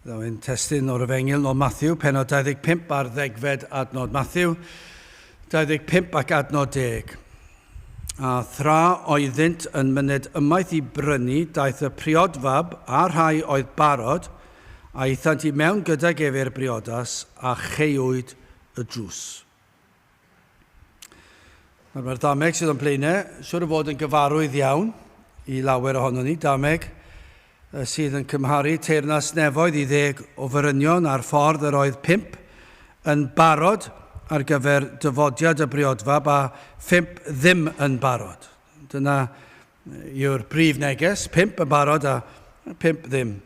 Ddaw ein testun o'r Efengyl nod Matthew, penod 25 ar ddegfed adnod Matthew, 25 ac adnod 10. A thra oeddynt yn myned ymaith i brynu, daeth y priodfab a rhai oedd barod, a ithant i mewn gydag ef i'r briodas, a cheuwyd y drws. Mae'r mae'r dameg sydd o'n blaenau, siwr o fod yn gyfarwydd iawn i lawer ohono ni, dameg y sydd yn cymharu teyrnas nefoedd i ddeg o ferynion a'r ffordd yr oedd pump yn barod ar gyfer dyfodiad y briodfab a phump ddim yn barod. Dyna yw'r prif neges, pump yn barod a phump ddim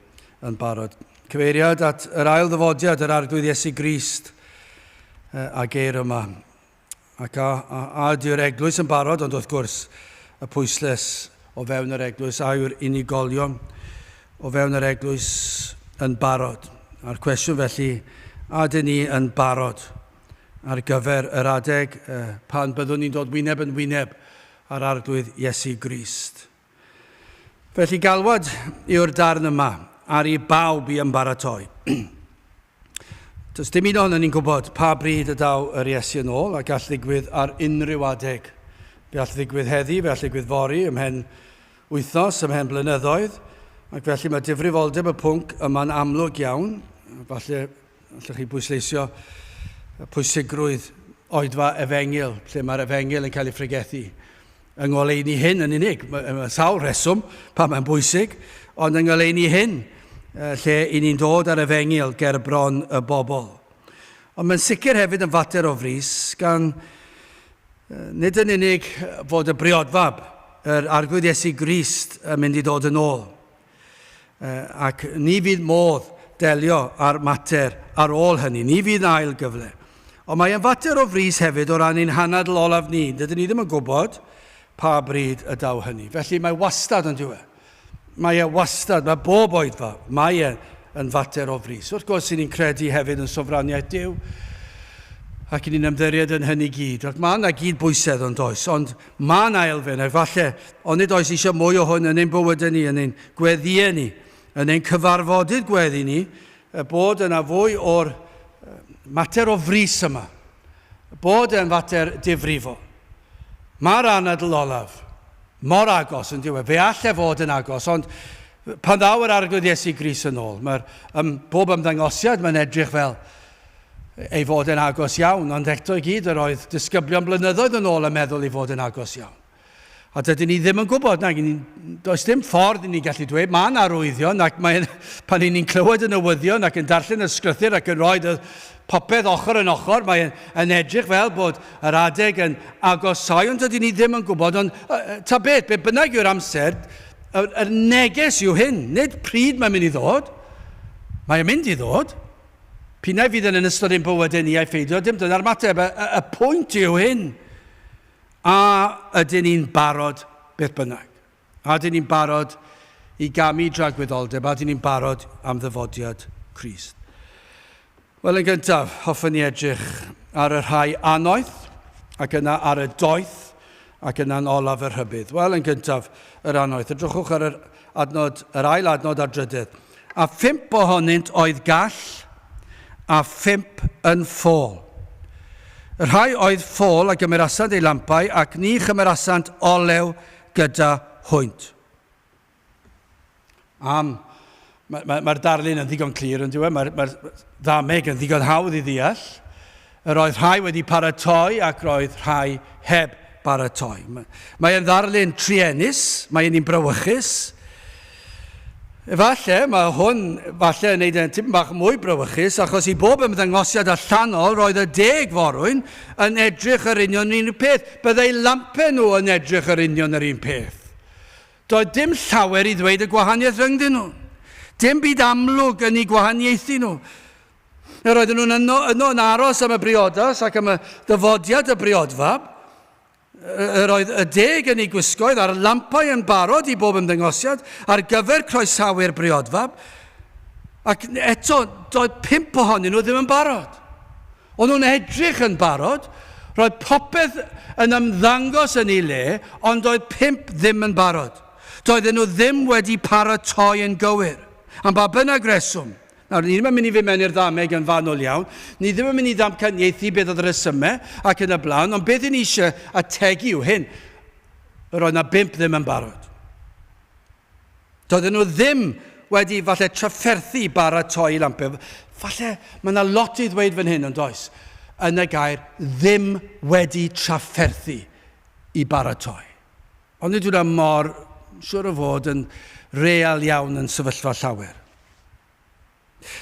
yn barod. Cyfeiriad at yr ail ddyfodiad, yr Arglwydd Iesu Grist, a geir yma. Ac a, a, a ydyw'r eglwys yn barod, ond wrth gwrs, y pwysles o fewn yr eglwys, a yw'r unigolion o fewn yr eglwys yn barod. A'r cwestiwn felly, a ydyn ni yn barod ar gyfer yr adeg pan byddwn ni'n dod wyneb yn wyneb A'r Arglwydd Iesu Grist. Felly galwad yw'r darn yma ar i bawb i ymbaratoi. Does dim un ohono ni'n gwybod pa bryd y daw yr Iesu yn ôl a gall ddigwydd ar unrhyw adeg. Fe all ddigwydd heddi, fe all ddigwydd fori, ymhen wythnos, ymhen blynyddoedd, ac felly mae difrifoldeb y pwnc yma'n amlwg iawn, falle Allwch chi bwysleisio pwysigrwydd oedfa efengyl, lle mae'r efengyl yn cael ei phregethu? Yng ngoleuni hyn yn unig, mae sawl rheswm pan mae'n bwysig, ond yng ngoleuni hyn, lle i ni'n dod â'r efengyl ger bron y bobl. Ond mae'n sicr hefyd yn fater o frys, gan nid yn unig fod y briodfab, yr Arglwydd Iesu Grist, yn mynd i ddod yn ôl, ac ni fydd modd delio â'r mater ar ôl hynny. Ni fydd 'na ail gyfle. Ond mae e'n fater o frys hefyd o ran ein hanadl olaf ni. Dydyn ni ddim yn gwybod pa bryd y daw hynny. Felly mae wastad yn diwe. Mae e wastad, mae bob oedfa, mae e yn fater o frys. Wrth gwrs, sy'n ni'n credu hefyd yn sofraniaeth Duw, ac ni'n ymddiried yn hynny gyd. Ac mae yna gyd bwysedd yn does, ond Mae 'na elfen, efallai, ond nid oes eisiau mwy o hwn yn ein bywydau ni, yn ein gweddïau ni, yn ein cyfarfodydd gweddi ni, bod yna fwy o'r mater o frys yma, bod e'n fater difrifol. Mae'r anadl olaf mor agos, yn dyw e, fe all e fod yn agos, ond pan ddaw yr Arglwydd Iesu Gris yn ôl, mae'r ym, bob ymddangosiad mae'n edrych fel ei fod e'n agos iawn, ond eto i gyd yr oedd disgyblion blynyddoedd yn ôl yn meddwl ei fod e'n agos iawn. A dydyn ni ddim yn gwybod, nag ni, does dim ffordd i ni gallu dweud, mae yna arwyddion ac mae, pan i ni'n clywed y newyddion ac yn darllen y sgrythyr ac yn rhoi popeth ochr yn ochr, mae'n yn edrych fel bod yr adeg yn agosau, ond dydyn ni ddim yn gwybod, ond ta beth, be bynnag yw'r amser, yr, yr neges yw hyn, nid pryd mae'n mynd i ddod, mae'n mynd i ddod, Pinnau fydd yn yn ystod ein bywydau ni ai pheidio, dim dyna'r mateb. Y, y, y pwynt yw hyn, a ydyn ni'n barod beth bynnag? A ydyn ni'n barod i gamu dragwyddoldeb? A ydyn ni'n barod am ddyfodiad Christ? Wel, yn gyntaf, hoffwn ni edrych ar y rhai anoeth, ac yna ar y doeth, ac yna'n olaf y rhybudd. Wel, yn gyntaf, yr anoeth. Edrychwch ar yr adnod, yr ail adnod a'r drydedd. a phump ohonynt oedd gall, a phump yn ffôl. Y rhai oedd ffôl a gymerasant eu lampau, ac ni chymerasant olew gyda hwynt. Am, mae'r mae, mae darlun yn ddigon clir yn diwedd, mae'r mae ddameg yn ddigon hawdd i ddeall, Yr oedd rhai wedi paratoi ac roedd rhai heb baratoi. Mae e'n ddarlun truenus, mae e'n un brawychus. Efalle, mae hwn falle yn neud e'n tipyn bach mwy brawychus achos i bob ymddangosiad allanol roedd y deg forwyn yn edrych yr union yr un peth. Byddai lampe nhw yn edrych yr union yr un peth. Doedd dim llawer i ddweud y gwahaniaeth rhyngddyn nhw. Dim byd amlwg yn eu gwahaniaethu nhw. Yr oedden nhw'n yno, yno yn aros am y briodas ac am y dyfodiad y briodfa. Yr oedd y deg yn ei gwisgoedd a'r lampau yn barod i bob ymddengosiad ar gyfer croesawu'r briodfa. Ac eto, doedd pump ohonyn nhw ddim yn barod. O'n nhw'n edrych yn barod, roedd popeth yn ymddangos yn ei le, ond doedd pump ddim yn barod. Doedden nhw ddim wedi paratoi yn gywir, am ba bynnag reswm. Nawr, ni ddim yn mynd i fynd mewn i'r ddameg yn fanwl iawn, ni ddim yn mynd i ddamcaniaethu beth oedd y rhesymau ac yn y blaen, ond beth i ni eisiau ategu yw hyn, yr oedd yna bump ddim yn barod. Doedden nhw ddim wedi falle trafferthu baratoi i lampau. Falle mae yna lot i ddweud fan hyn yn does, yn y gair ddim wedi trafferthu i baratoi. Ond nid wyna mor siwr o fod yn real iawn yn sefyllfa llawer.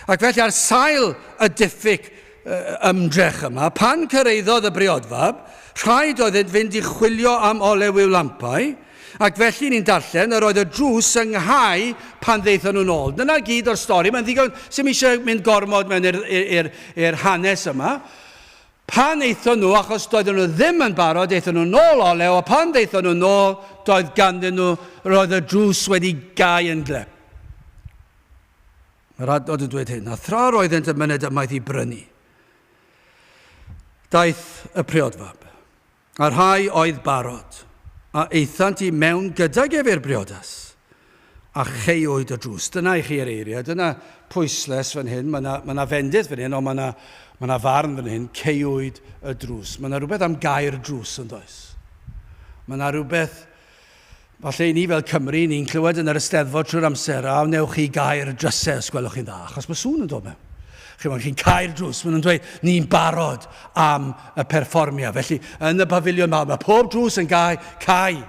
Ac felly ar sail y diffyg ymdrech yma, pan cyrraeddodd y briodfab, rhaid oedd yn fynd i chwilio am olew i'w lampau, ac felly ni'n darllen yr oedd y drws yng nghau pan ddeithon nhw'n ôl. Dyna gyd o'r stori, mae'n ddigon, sy'n eisiau mynd gormod mewn i'r hanes yma. Pan aethon nhw, achos doedden nhw ddim yn barod, aethon nhw nôl olew, a phan ddaethon nhw nôl, doedd ganddyn nhw, roedd y drws wedi gau yn glep. Mae'r adnod yn dweud hyn, a thra roeddent yn myned ymaith i brynu, daeth y priodfab. A rhai oedd barod, a aethant i mewn gydag ef i'r briodas, a cheuwyd y drws. Dyna i chi yr eiriau, dyna pwysles fan hyn, mae 'na, mae 'na fendith fan hyn, ond mae 'na, mae 'na farn fan hyn, ceuwyd y drws. Mae 'na rhywbeth am gau'r drws, yn does? Mae 'na rhywbeth Falle i ni fel Cymry, ni'n clywed yn yr Eisteddfod trwy'r amser, a wnewch chi gau'r drysau os gwelwch chi'n dda, achos mae sŵn yn dod mewn. Chi'n gwybod, chi'n cau'r drws, maen nhw'n dweud, ni'n barod am y perfformiad. Felly, yn y pafiliwn mawr, mae pob drws yn gau, cau,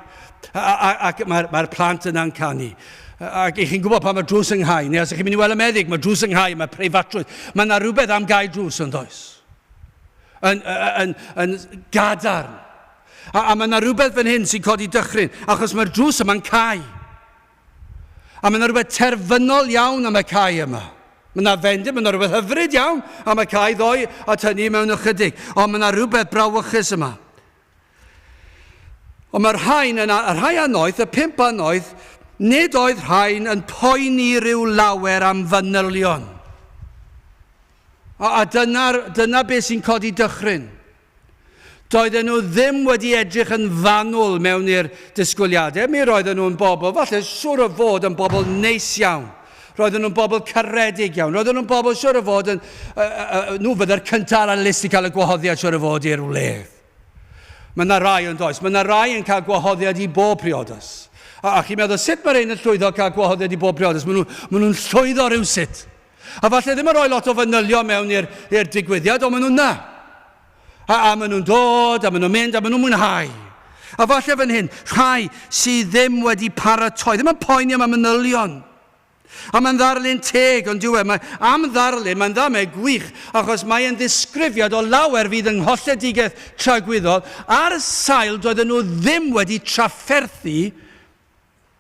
ac mae'r mae plant yna'n canu. Ac i chi'n gwybod pan mae drws yng Nghai, neu os ydych chi'n mynd i weld y meddyg, mae drws yng Nghai, mae preifatrwydd. Mae yna rhywbeth am gael drws yn does. Yn, yn, yn gadarn. A, a mae yna rywbeth fan hyn sy'n codi dychryn, achos mae'r drws yma'n cau. A mae yna rhywbeth terfynol iawn am y cau yma. Mae yna fendith, mae yna rhywbeth hyfryd iawn am y cau ddoe at hynny mewn ychydig, ond mae yna rhywbeth brawychus yma. Ond mae'r rhain yn a- y rhai anoeth, y pump anoeth, nid oedd rhain yn poeni rhyw lawer am fanylion. A, a dyna, dyna beth sy'n codi dychryn. Doedden nhw ddim wedi edrych yn fanwl mewn i'r disgwyliadau. Mi roedden nhw'n bobl, falle siwr o fod yn bobl neis iawn. Roedden nhw'n bobl caredig iawn. Roedden nhw'n bobl siwr o fod yn... Uh, uh, uh, nhw fydda'r cyntaf ar y list i cael y gwahoddiad siwr o fod i'r wledd. Mae yna rai yn does. Mae yna rai yn cael gwahoddiad i bob priodas. A, a chi'n meddwl, sut mae rhain yn llwyddo cael gwahoddiad i bob priodas? Maen nhw'n nhw llwyddo rhywsut. A falle ddim yn rhoi lot o fanylion mewn i'r i'r digwyddiad, ond maen nhw'n na. A, a maen nhw'n dod, a maen nhw'n mynd, a maen nhw'n mwynhau. A falle fan hyn, rhai sydd ddim wedi paratoi, ddim yn poeni am y manylion. A mae'n ddarlun teg, ond diwe, mae am ddarlun, mae'n dda, mae gwych, achos mae'n ddisgrifiad o lawer fydd yng ngholledigaeth tragwyddol ar sail doedden nhw ddim wedi trafferthu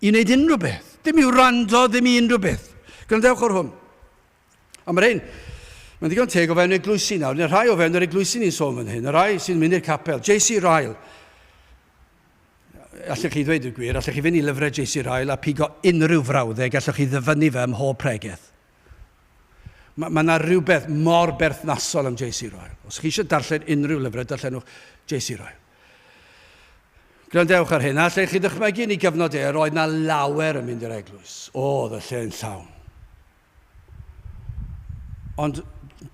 i wneud unrhyw beth, dim i wrando, ddim i unrhyw beth. Gwrandewch o'r hwn. Ond mae'r ein, mae'n ddigon teg o fewn eglwysi nawr, neu rhai o fewn yr eglwysi ni'n sôn fan hyn, y rhai sy'n mynd i'r capel, JC Ryle, allwch chi ddweud y gwir, allwch chi fynd i lyfrau JC Ryle a pigo unrhyw frawddeg, allwch chi ddyfynnu fe ym mhob pregeth. Mae ma yna rhywbeth mor berthnasol am JC Ryle. Os chi eisiau darllen unrhyw lyfrau, darllenwch JC Ryle. Gwrandewch ar hyn, allech chi ddychmygu yn ei gyfnod e, yr oedd na lawer yn mynd i'r eglwys. Oedd y lle yn llawn. Ond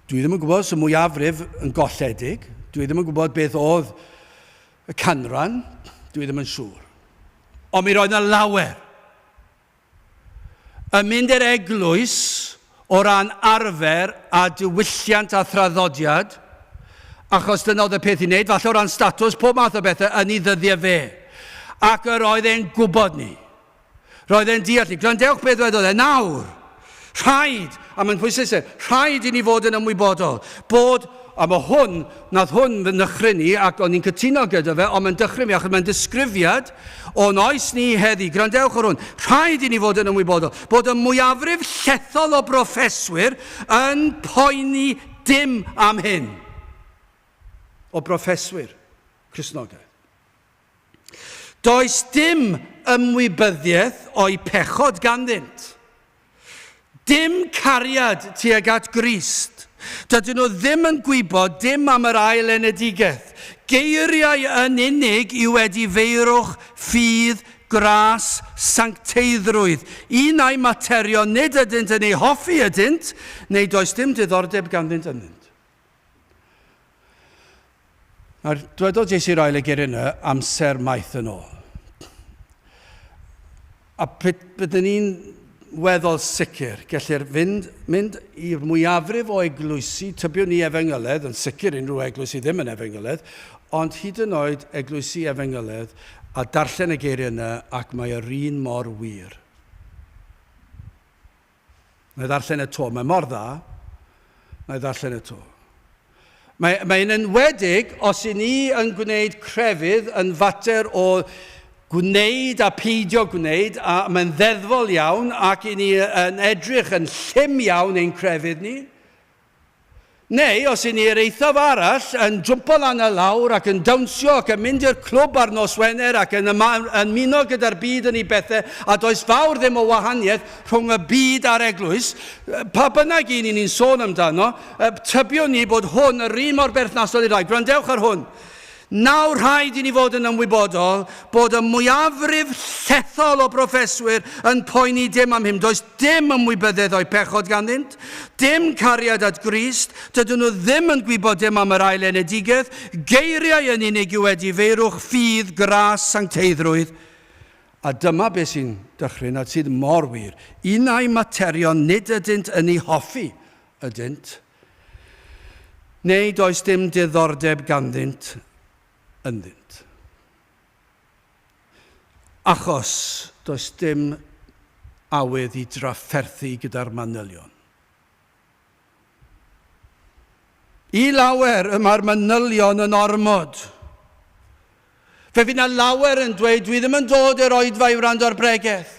dwi ddim yn gwybod os y mwyafrif yn golledig, dwi ddim yn gwybod beth oedd y canran, dwi ddim yn siŵr. Ond mi roedd na lawer. Yn mynd i'r eglwys o ran arfer a diwylliant a thraddodiad, achos dyna oedd y peth i wneud, falle o ran statws, pob math o bethau yn ei ddyddiau fe. Ac yr oedd e'n gwybod ni. Roedd e'n deall ni. Gwrandewch beth wedodd e nawr. Rhaid, a mae'n pwysleisio, rhaid i ni fod yn ymwybodol bod, a mae hwn, nath hwn fy nychryn i ac o'n i'n cytuno gyda fe, ond mae'n dychryn fi achos mae'n disgrifiad o'n oes ni heddi. Gwrandewch ar hwn. Rhaid i ni fod yn ymwybodol bod y mwyafrif llethol o broffeswyr yn poeni dim am hyn. O broffeswyr Cristnogaeth. Does dim ymwybyddiaeth o'u pechod ganddynt. Dim cariad tuag at Grist. Dydyn nhw ddim yn gwybod dim am yr ail enedigaeth. Geiriau yn unig yw wedi feirwch, ffydd, gras, sancteiddrwydd. Unai materion nid ydynt yn eu hoffi ydynt, neu does dim diddordeb ganddynt ynddynt. Nawr, dwedodd Jesu i'r ail egeir yna amser maith yn ôl. A byddwn ni'n weddol sicr, gellir fynd, mynd i'r mwyafrif o eglwysi, tybiwn ni efengyledd, yn sicr unrhyw eglwysi ddim yn efengyledd, ond hyd yn oed eglwysi efengyledd, a darllen y geiriau yna ac mae yr un mor wir. Nai ddarllen e 'to, mae mor dda. Nai ddarllen e 'to. Mae, mae yn enwedig os i ni yn gwneud crefydd yn fater o gwneud a peidio gwneud, a mae'n ddeddfol iawn ac i ni yn edrych yn llym iawn ein crefydd ni, Neu os 'yn ni i'r eithaf arall, yn jwmpo lan a lawr ac yn dawnsio ac yn mynd i'r clwb ar nos Wener ac yn ymuno gyda'r byd yn ei bethe a does fawr ddim o wahaniaeth rhwng y byd a'r eglwys, pa bynnag un 'yn ni'n sôn amdano, tybiwn ni bod hwn yr un mor berthnasol i'r ddau. Gwrandewch ar hwn. Nawr, rhaid i ni fod yn ymwybodol bod y mwyafrif llethol o broffeswyr yn poeni dim am hyn. Does dim ymwybyddedd o'u pechod ganddynt, dim cariad at Grist, dydyn nhw ddim yn gwybod dim am yr Ail Enedigaeth, geiriau yn unig yw edifeirwch, ffydd, gras, sancteiddrwydd. A dyma beth sy'n dychryn a sydd mor wir, unai materion nid ydynt yn eu hoffi ydynt. Neu does dim diddordeb ganddynt ynddynt. Achos does dim awydd i drafferthu gyda'r manylion. I lawer y mae'r manylion yn ormod. Fe fydd 'na lawer yn dweud, 'Dwi ddim yn dod i'r oedfa i wrando ar bregeth.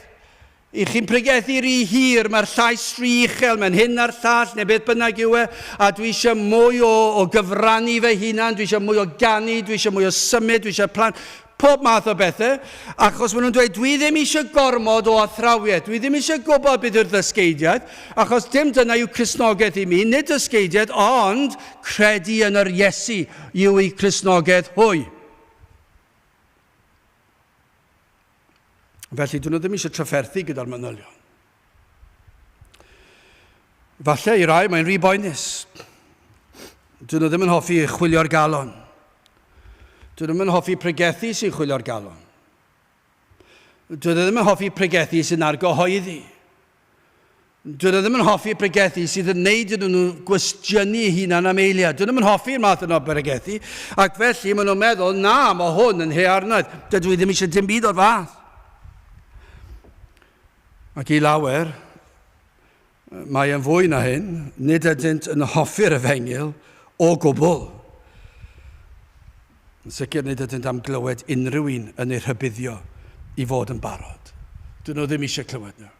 I chi'n pregethu rhy hir, mae'r llais rhy uchel, mae'n hyn a'r llall, neu beth bynnag yw e, a dwi eisiau mwy o, o gyfrannu fy hunan, dwi eisiau mwy o ganu, dwi eisiau mwy o symud, dwi eisiau plant, pob math o bethau, achos maen nhw'n dweud, dwi ddim eisiau gormod o athrawiaeth, dwi ddim eisiau gwybod beth yw'r ddysgeidiaeth, achos dim dyna yw Cristnogaeth i mi, nid dysgeidiaeth, ond Credu yn yr Iesu yw eu Cristnogedd hwy. Felly, dyn nhw ddim eisiau trafferthu gyda'r manylion. Falle i rai mae'n rhy boenus. Dyn nhw ddim yn hoffi chwilio'r galon. Dyn nhw'n hoffi pregethu sy'n chwilio'r galon. Dwi ddim yn hoffi pregethu sy'n argyhoeddi. Dwi ddim yn hoffi pregethu sydd yn neud iddyn nhw gwestiynu eu hunan am eiliad. Dwi ddim yn hoffi'r math yna o bregethu, ac felly maen nhw'n meddwl, na, mae hwn yn hearnaeth. Dydw i ddim eisiau dim byd o'r fath. Ac i lawer, Mae yn fwy na hyn, nid ydynt yn hoffi'r efengyl o gwbl. Yn sicr nid ydynt am glywed unrhyw un yn eu rhybuddio i fod yn barod. Dyn nhw ddim eisiau clywed nhw.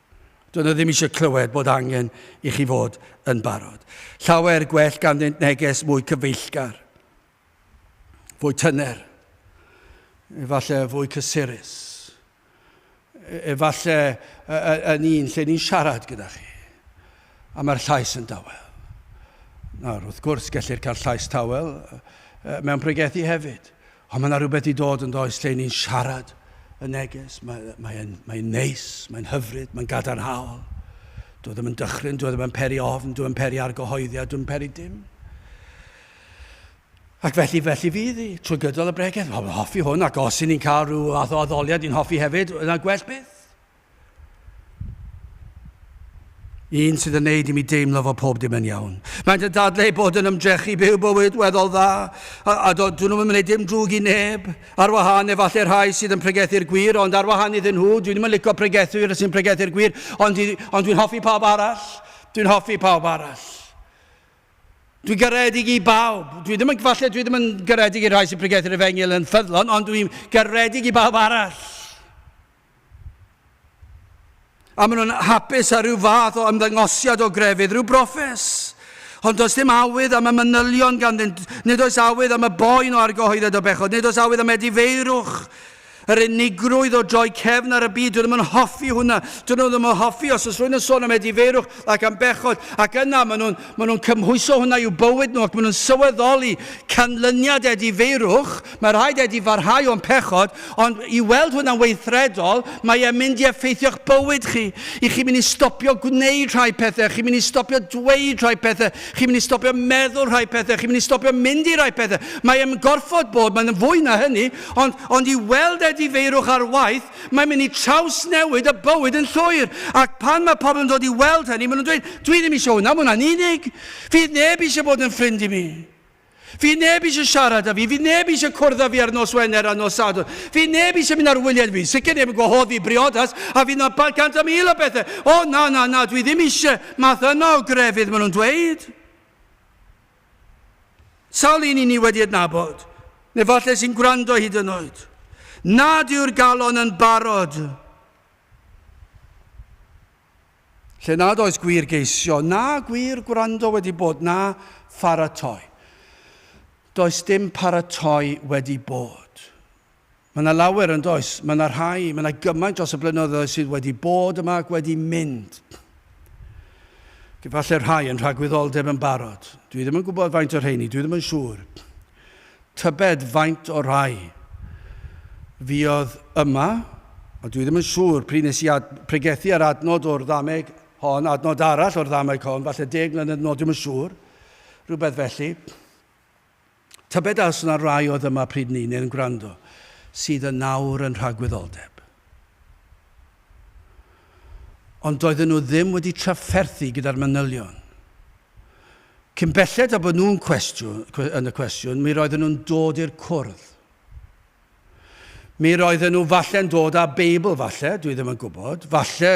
Dyn nhw ddim eisiau clywed bod angen i chi fod yn barod. Llawer gwell ganddynt neges mwy cyfeillgar. fwy tyner, efallai fwy cysurus, e-, efallai yn un lle ni'n siarad gyda chi, a mae'r llais yn dawel. Nawr, wrth gwrs, gellir cael llais tawel mewn pregethu hefyd, ond mae yna rhywbeth i dod yn does lle ni'n siarad y neges, mae'n mae mae neis, mae'n hyfryd, mae'n gadarnhaol. Dwi e ddim yn dychryn, dwi e ddim yn peri ofn, dwi e ddim yn peri argyhoeddiad, dwi'n peri dim. Ac felly, felly fydd hi, trwy gydol y bregeth. Wel, mae'n hoffi hwn, ac os i ni'n cael rhyw fath o addoliad i'n hoffi hefyd, yna gwell byth. Un sydd yn neud i mi deimlo fod pob dim yn iawn. Mae'n yn dadlau bod yn ymdrechu byw bywyd weddol dda, a, a dod nhw'n ymwneud dim drwg i neb, ar wahân efallai rhai sydd yn pregethu'r gwir, ond ar wahân iddyn nhw, dwi'n ddim yn licio pregethu sy'n pregethu'r gwir, ond, ond dwi'n hoffi pawb arall, dwi'n hoffi pawb arall. Dwi'n garedig i bawb. Dwi ddim yn, falle dwi ddim yn garedig i'r rhai sy'n pregethu'r efengyl yn ffyddlon, ond dwi'n garedig i bawb arall. A maen nhw'n hapus ar rhyw fath o ymddangosiad o grefydd, rhyw brofes. Ond does dim awydd am y manylion ganddynt, nid oes awydd am y boen o argyhoeddiad o bechod, nid oes awydd am edifeirwch. Yr unigrwydd o droi cefn ar y byd, dwi ddim yn hoffi hwnna. Dyn nhw ddim yn hoffi os oes rhywun yn sôn am edifeirwch ac am bechod, ac yna maen nhw'n maen nhw'n cymhwyso hwnna i'w bywyd nhw ac maen nhw'n sylweddoli canlyniad edifeirwch, mae rhaid edifarhau o'n pechod, ond i weld hwnna'n weithredol, mae e'n mynd i effeithio'ch bywyd chi. I chi'n mynd i stopio gwneud rhai pethau, chi'n mynd i stopio dweud rhai pethau, chi'n mynd i stopio meddwl rhai pethau, chi'n mynd i stopio mynd i rai pethau. Mae e'n gorfod bod, mae'n fwy na hynny, Ond, ond i weld edifeirwch ar waith, mae'n mynd i trawsnewid y bywyd yn llwyr. Ac pan mae pobl yn dod i weld hynny, maen nhw'n dweud, dwi ddim eisiau hwnna, mae hwnna'n unig. Fydd neb eisiau bod yn ffrind i mi. Fydd neb eisiau siarad â fi, fydd neb eisiau cwrdd â fi ar nos Wener a nos Sadwrn. Fydd neb eisiau mynd ar wyliau fi, sicr neb yn gwahodd fi briodas, a fydd yna cant a mil o bethau. O, na, na, na, dwi ddim eisiau math yna o grefydd, maen nhw'n dweud. Sawl un i ni wedi adnabod, neu falle sy'n gwrando hyd yn oed, nad yw'r galon yn barod? Lle nad oes gwir geisio, na gwir gwrando wedi bod, na pharatoi. Does dim paratoi wedi bod. Mae 'na lawer, yn does? Mae 'na rhai, mae 'na gymaint dros y blynyddoedd sydd wedi bod yma ac wedi mynd. Efallai rhai yn rhagwyddoldeb yn barod. Dwi ddim yn gwybod faint o'r rheini, dwi ddim yn siŵr. Tybed faint o rai fuodd yma, a dwi ddim yn siŵr pryd nes i ad, pregethu ar adnod o'r ddameg hon, adnod arall o'r ddameg hon, falle deg mlynedd yn ôl, dwi ddim yn siŵr, rhywbeth felly. Tybed a os yna rai oedd yma pryd 'ny, neu'n gwrando, sydd yn nawr yn rhagwyddoldeb. Ond doedden nhw ddim wedi trafferthu gyda'r manylion. Cyn belled â bod nhw'n cwestiwn, yn y cwestiwn, mi roedden nhw'n dod i'r cwrdd. Mi roedden nhw falle'n dod â Beibl, falle, dwi ddim yn gwybod, falle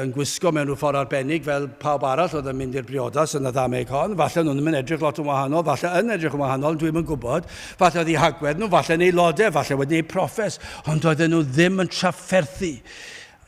yn gwisgo mewn rhyw ffordd arbennig fel pawb arall oedd yn mynd i'r briodas yn y ddameg hon, falle nhw'n ddim yn edrych lot yn wahanol, falle yn edrych yn wahanol, dwi ddim yn gwybod, falle oedd eu hagwedd nhw, falle yn aelodau, falle wedi eu proffes, ond doedden nhw ddim yn trafferthu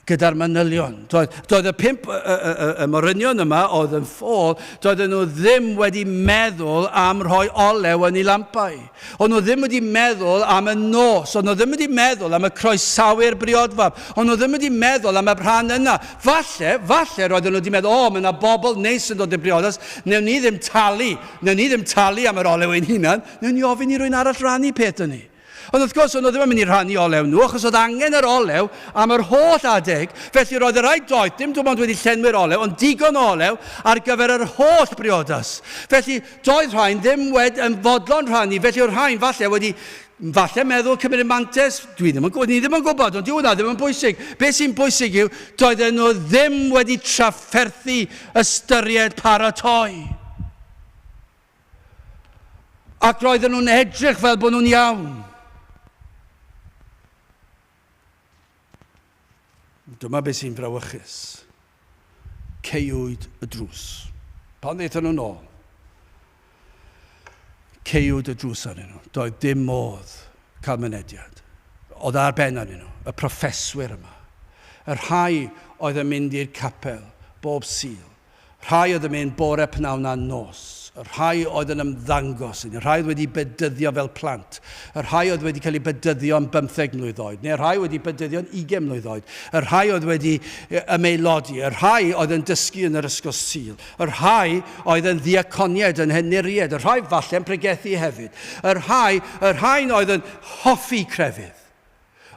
gyda'r manylion. Doedd, doedd y pimp y, y, y, y morynion yma oedd yn ffôl, doedden nhw ddim wedi meddwl am rhoi olew yn ei lampau. Ond nhw ddim wedi meddwl am y nos, ond nhw ddim wedi meddwl am y croesawyr briodfab, ond nhw ddim wedi meddwl am y rhan yna. Falle, falle roedden nhw wedi meddwl, o, mae yna bobl neis yn dod i'r briodas, newn ni ddim talu, newn ni ddim talu am yr olew ein hunan, newn ni ofyn i rwy'n arall rannu peth yn ni. Ond wrth gwrs, o'n nhw ddim yn mynd i rhannu olew nhw, achos oedd angen yr olew am yr holl adeg, felly roedd y rhaid doedd dim dim ond wedi llenwi'r olew, ond digon o olew ar gyfer yr holl briodas. Felly, doedd rhain ddim wed yn fodlon rhannu, felly oedd rhain falle wedi falle meddwl cymryd mantes, dwi ddim yn gwybod, ni ddim yn gwybod, ond dyw hwnna ddim yn bwysig. Be sy'n bwysig yw, doedden nhw ddim wedi trafferthu ystyried paratoi. Ac roedden nhw'n edrych fel bod nhw'n iawn. Dyma beth sy'n frawychus. Ceiwyd y drws. Pan ddeitha nhw'n ôl, ceiwyd y drws arnyn nhw. Doedd dim modd cael mynediad. Oedd ar ben arnyn nhw, y proffeswyr yma. Y rhai oedd yn mynd i'r capel bob sil, Rhai oedd yn mynd bore pnawn na nos. Y rhai oedd yn ymddangos i ni. Y rhai oedd wedi bedyddio fel plant. Y rhai oedd wedi cael eu bedyddio yn bymtheg mlwydd oed. Neu y rhai wedi bedyddio yn ugain mlwydd oed. Y rhai oedd wedi ymaelodi. Y rhai oedd yn dysgu yn yr ysgol Sul. Y rhai oedd yn ddiaconiaid, yn henuriaid. Y rhai falle'n pregethu hefyd. Y rhai, y rhain oedd yn hoffi crefydd.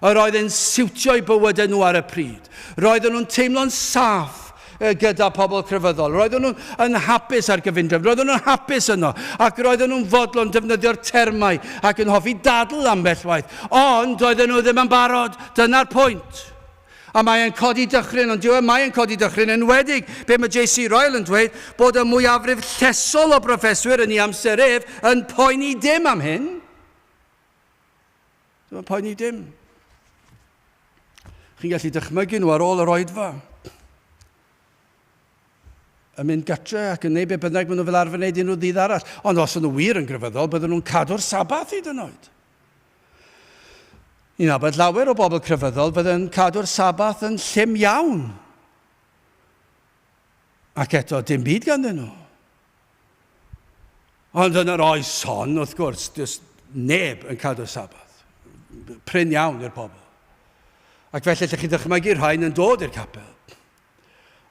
Yr oedd yn siwtio i bywydau nhw ar y pryd. Roedden nhw'n teimlo'n saff gyda pobl crefyddol. Roedden nhw yn hapus ar gyfundrefn. Roedden nhw'n hapus yno. Ac roedden nhw'n fodlon defnyddio'r termau ac yn hoffi dadl ambell waith. Ond doedden nhw ddim yn barod. Dyna'r pwynt. A mae e'n codi dychryn, ond diwe, mae e'n codi dychryn, enwedig be mae JC Ryle yn dweud, bod y mwyafrif llesol o broffeswyr yn ei amser ef yn poeni dim am hyn. Dyma poeni dim. Chi'n gallu dychmygu nhw ar ôl yr oedfa. Yn mynd gytre ac yn neud be bynnag maen nhw fel arfer wneud unrhyw ddydd arall. Ond os nhw wir yn grefyddol, bydden nhw'n cadw'r sabath hyd yn oed. Ni'n abod llawer o bobl crefyddol bydden cadw'r sabath yn llym iawn. Ac eto, dim byd ganddyn nhw. Ond yn yr oes hon, wrth gwrs, does neb yn cadw sabath. Prin iawn i'r pobl. Ac felly lle chi'n dychmygu rhain yn dod i'r capel.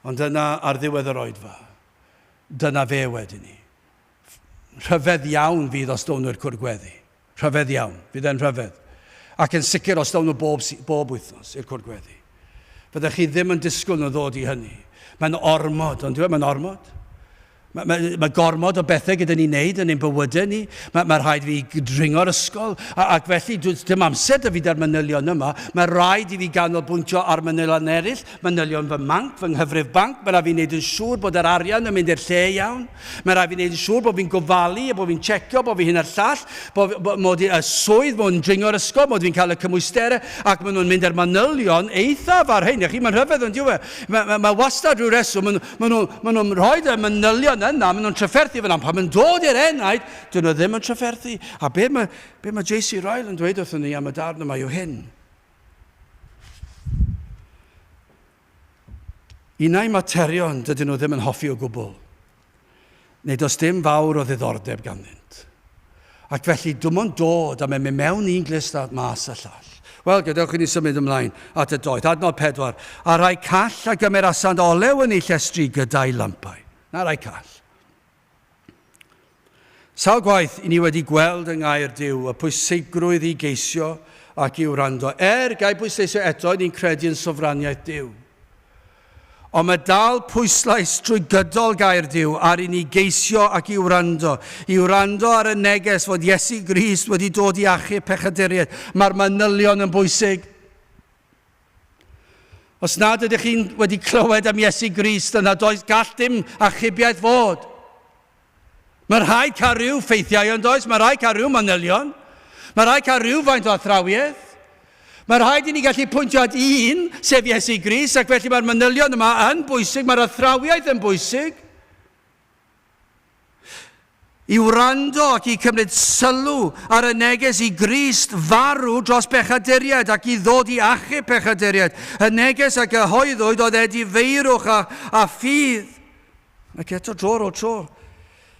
Ond dyna ar ddiwedd yr oedfa. Dyna fe wedyn ni. Rhyfedd iawn fydd os down i'r cwrgweddi. Rhyfedd iawn. Fydd e'n rhyfedd. Ac yn sicr os dawn nhw bob, bob wythnos i'r cwrdd gweddi. Fyddech chi ddim yn disgwyl nhw ddod i hynny. Mae'n ormod, ond dweud, mae'n ormod. Mae, mae, mae gormod o bethau gyda ni wneud yn ein bywydau ni. Mae, mae rhaid fi dringo'r ysgol, a, ac felly dim amser da fi da'r manylion yma. Mae rhaid i fi ganolbwyntio ar manylion eraill, manylion fy manc, fy nghyfrif banc. Mae rhaid fi wneud yn siŵr bod yr arian yn mynd i'r lle iawn. Mae'n rhaid i fi wneud yn siŵr bod fi'n gofalu a bod fi'n checio, bod fi hyn a'r llall, bod, bod, mod i y swydd, mod yn dringo'r ysgol, mod fi'n cael y cymwysterau, ac maen nhw'n mynd ar manylion eithaf ar hyn. Chi, mae'n rhyfedd yn diwy. E? Mae, mae, mae wastad rhyw reswm, maen, maen, nhw, maen nhw'n rhoi y manylion yna, maen nhw'n trafferthu fyna, pan mae'n dod i'r enaid, dyn nhw ddim yn trafferthu. A be mae, be mae JC Ryle yn dweud wrthyn ni am y darn yma yw hyn. Unai materion dydyn nhw ddim yn hoffi o gwbl, neu does dim fawr o ddiddordeb ganddynt. Ac felly, dim ond dod a mynd mewn un glust a mas y llall. Wel, gadewch i ni symud ymlaen at y doeth. Adnod pedwar. A rhai call a gymerasant olew yn eu llestri gyda'i lampau. Na rhai call. Sawl gwaith i ni wedi gweld yng Ngaer Duw y pwysigrwydd i geisio ac i wrando. Er, gai bwysleisio eto, ni'n credu yn sofraniaeth Duw. Ond mae dal pwyslais trwy gydol Gair Duw ar i ni geisio ac i wrando, i wrando ar y neges fod Iesu Grist wedi dod i achub pechaduriaid. Mae'r manylion yn bwysig. Os nad ydych chi'n wedi clywed am Iesu Grist yna does gall dim achubiaeth fod. Mae rhaid cael rhyw ffeithiau ond oes, mae rhaid cael rhyw manylion, mae rhaid cael rhywfaint o athrawiaeth. Mae rhaid i ni gallu pwyntio at un, sef Iesu Grist, ac felly mae'r manylion yma yn bwysig, mae'r athrawiaeth yn bwysig. i wrando ac i cymryd sylw ar y neges i Grist farw dros bechaduriaid ac i ddod i achub pechaduriaid, y neges a gyhoeddwyd oedd edifeirwch a, a ffydd. Ac eto dro ar ôl tro,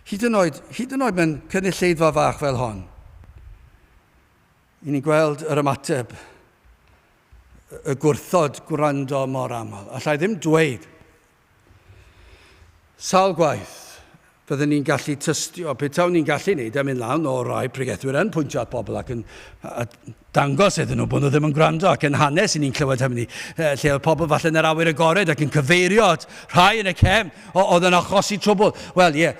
hyd yn oed, hyd yn oed mewn cynulleidfa fach fel hon, i ni'n gweld yr ymateb, y gwrthod gwrando mor aml. Alla i ddim dweud Sawl gwaith fydden ni'n gallu tystio petawn ni'n gallu neud e, mynd lan o rai pregethwyr yn pwyntio at bobl ac yn dangos iddyn nhw bod nhw ddim yn gwrando ac yn hanes i ni'n clywed hynny, lle oedd pobl falle yn yr awyr agored ac yn cyfeirio at rhai yn y cefn oedd yn achosi trwbl. Wel ie,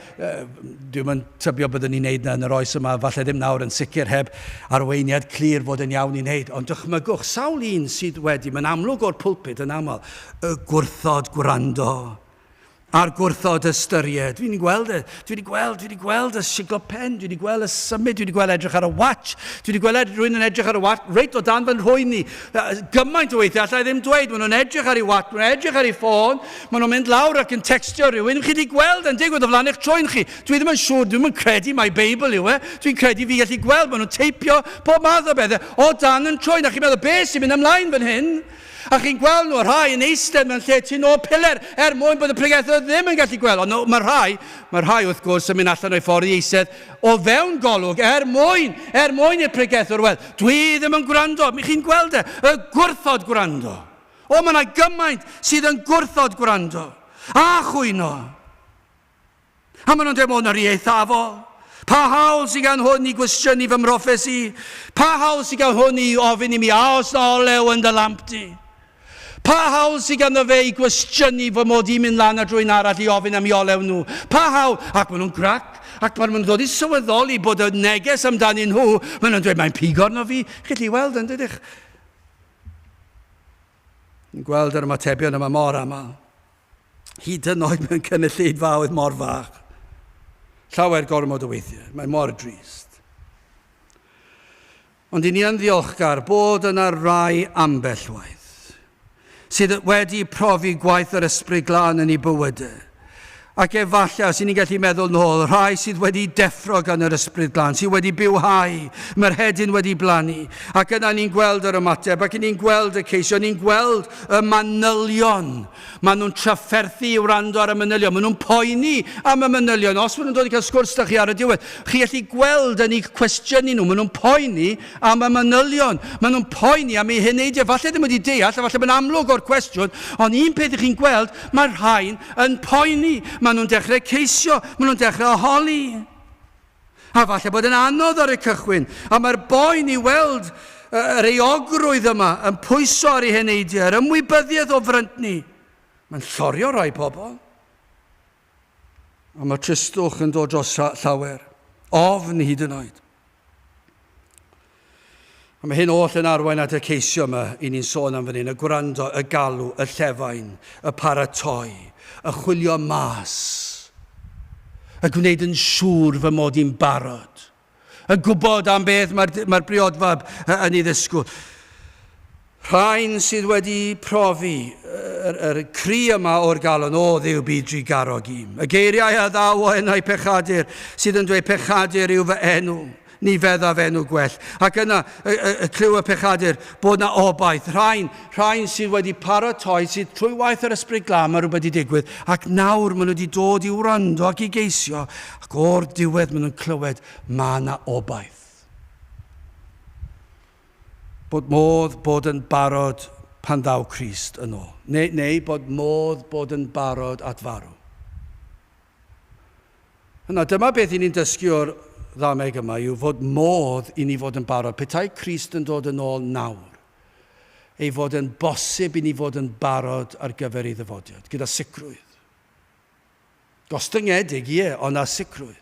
dwi'n yn tybio byddwn ni'n neud na yn yr oes yma, falle ddim nawr yn sicr heb arweiniad clir fod yn iawn i wneud, ond dychmygwch sawl un sydd wedi, mae'n amlwg o'r pulpud yn aml, Y gwrthod gwrando a'r gwrthod ystyried. Dwi wedi gweld e. Dwi wedi gweld, dwi wedi gweld y siglo pen, dwi wedi gweld y symud, dwi wedi gweld edrych ar y watch, dwi wedi gweld ed rwy'n yn edrych ar y watch, reit o dan fy nhrwy ni. Gymaint o weithiau, allai ddim dweud, maen nhw'n edrych ar ei watch, maen nhw'n edrych ar ei ffôn, maen nhw'n mynd lawr ac yn textio rhywun, chi wedi gweld yn digwydd o flaen eich trwy'n chi. Dwi ddim yn siŵr, dwi'n yn credu mai Beibl yw e, dwi'n credu fi gallu gweld, maen nhw'n teipio pob math o bethau o dan yn trwy'n, a chi'n meddwl, beth sy'n mynd ymlaen fan hyn? A chi'n gweld nhw, y rhai yn eistedd mewn lle tu nôl piler er mwyn bod y pregethwr ddim yn gallu gweld. Ond mae'r rhai, mae'r rhai wrth gwrs yn mynd allan o'i ffordd i eistedd o fewn golwg er mwyn, er mwyn i'r pregethwr weld. Dwi ddim yn gwrando. Mi chi'n gweld e, y gwrthod gwrando. O, mae yna gymaint sydd yn gwrthod gwrando. A chwyno. A maen nhw'n dweud, o, na ri eithafo. Pa hawl sydd gan hwn i gwestiynu fy mroffes i? Pa hawl sydd gan hwn i ofyn i mi, a os na olew yn dy lamp di? Pa hawl sydd ganddo fe i gwestiynu fy mod i'n mynd lan a drwy'n arall i ofyn am i olew nhw? Pa hawl? Ac maen nhw'n grac, ac pan maen nhw'n dod i sylweddoli bod y neges amdanyn nhw, maen nhw'n dweud, mae'n pigo arno fi. Chi'n gallu weld yn dydych? Yn gweld yr ymatebion yma mor aml, hyd yn oed mewn cynulleidfaoedd mor fach, llawer gormod o weithiau, mae mor drist. Ond i ni yn ddiolchgar bod yna rai ambell waith sydd wedi profi gwaith yr ysbryd glân yn ei bywydau, Ac efallai, os y'n ni'n gallu meddwl nôl, y rhai sydd wedi deffro gan yr Ysbryd Glân, sydd wedi bywhau, mae'r hedyn wedi blannu, ac yna ni'n gweld yr ymateb, ac ni'n gweld y ceisio, ni'n gweld y manylion. Maen nhw'n trafferthu i wrando ar y manylion, maen nhw'n poeni am y manylion. Os maen nhw'n dod i cael sgwrs da chi ar y diwedd, chi allu gweld yn eu cwestiynu nhw, maen nhw'n poeni Am y manylion. Maen nhw'n poeni am eu heneidiau. Falle ddim wedi deall, a falle mae'n amlwg o'r cwestiwn, ond un peth i chi'n gweld, mae'r rhain yn poeni. Maen nhw'n dechrau ceisio, maen nhw'n dechrau o holi. A falle bod yn anodd ar y cychwyn, ond mae'r boen i weld yr euogrwydd yma yn pwyso ar ei heneidiau, yr ymwybyddiaeth o fryntni. Mae'n llorio rhai pobl. A mae tristwch yn dod dros llawer. Ofn hyd yn oed. A mae hyn oll yn arwain at y ceisio yma i ni'n sôn am fan hyn, y gwrando, y galw, y llefain, y paratoi, y chwilio mas, y gwneud yn siŵr fy mod i'n barod. yn gwybod am beth mae'r mae briodfab yn ei ddysgwyl. Rhain sydd wedi profi yr, yr cri yma o'r galon, o ddiw byd dri garog i. Y geiriau a ddaw o enau pechadur, sydd yn dweud pechadur yw fy enw, ni feddaf enw gwell. Ac yna, y, y, y clyw y pechadur, bod na obaith. Rhain, rhain sydd wedi paratoi, sydd trwy waith yr ysbryd glam, mae rhywbeth wedi digwydd, ac nawr maen nhw wedi dod i wrando ac i geisio, Ac o'r diwedd maen nhw'n clywed mae yna obaith. Bod modd bod yn barod pan ddaw Crist yn ôl. Neu, neu bod modd bod yn barod at farw. Yna dyma beth i ni'n dysgu o'r ddameg yma yw fod modd i ni fod yn barod. Petai Crist yn dod yn ôl nawr, ei fod yn bosib i ni fod yn barod ar gyfer ei ddyfodiad, gyda sicrwydd. Gostyngedig, ie, ond na sicrwydd.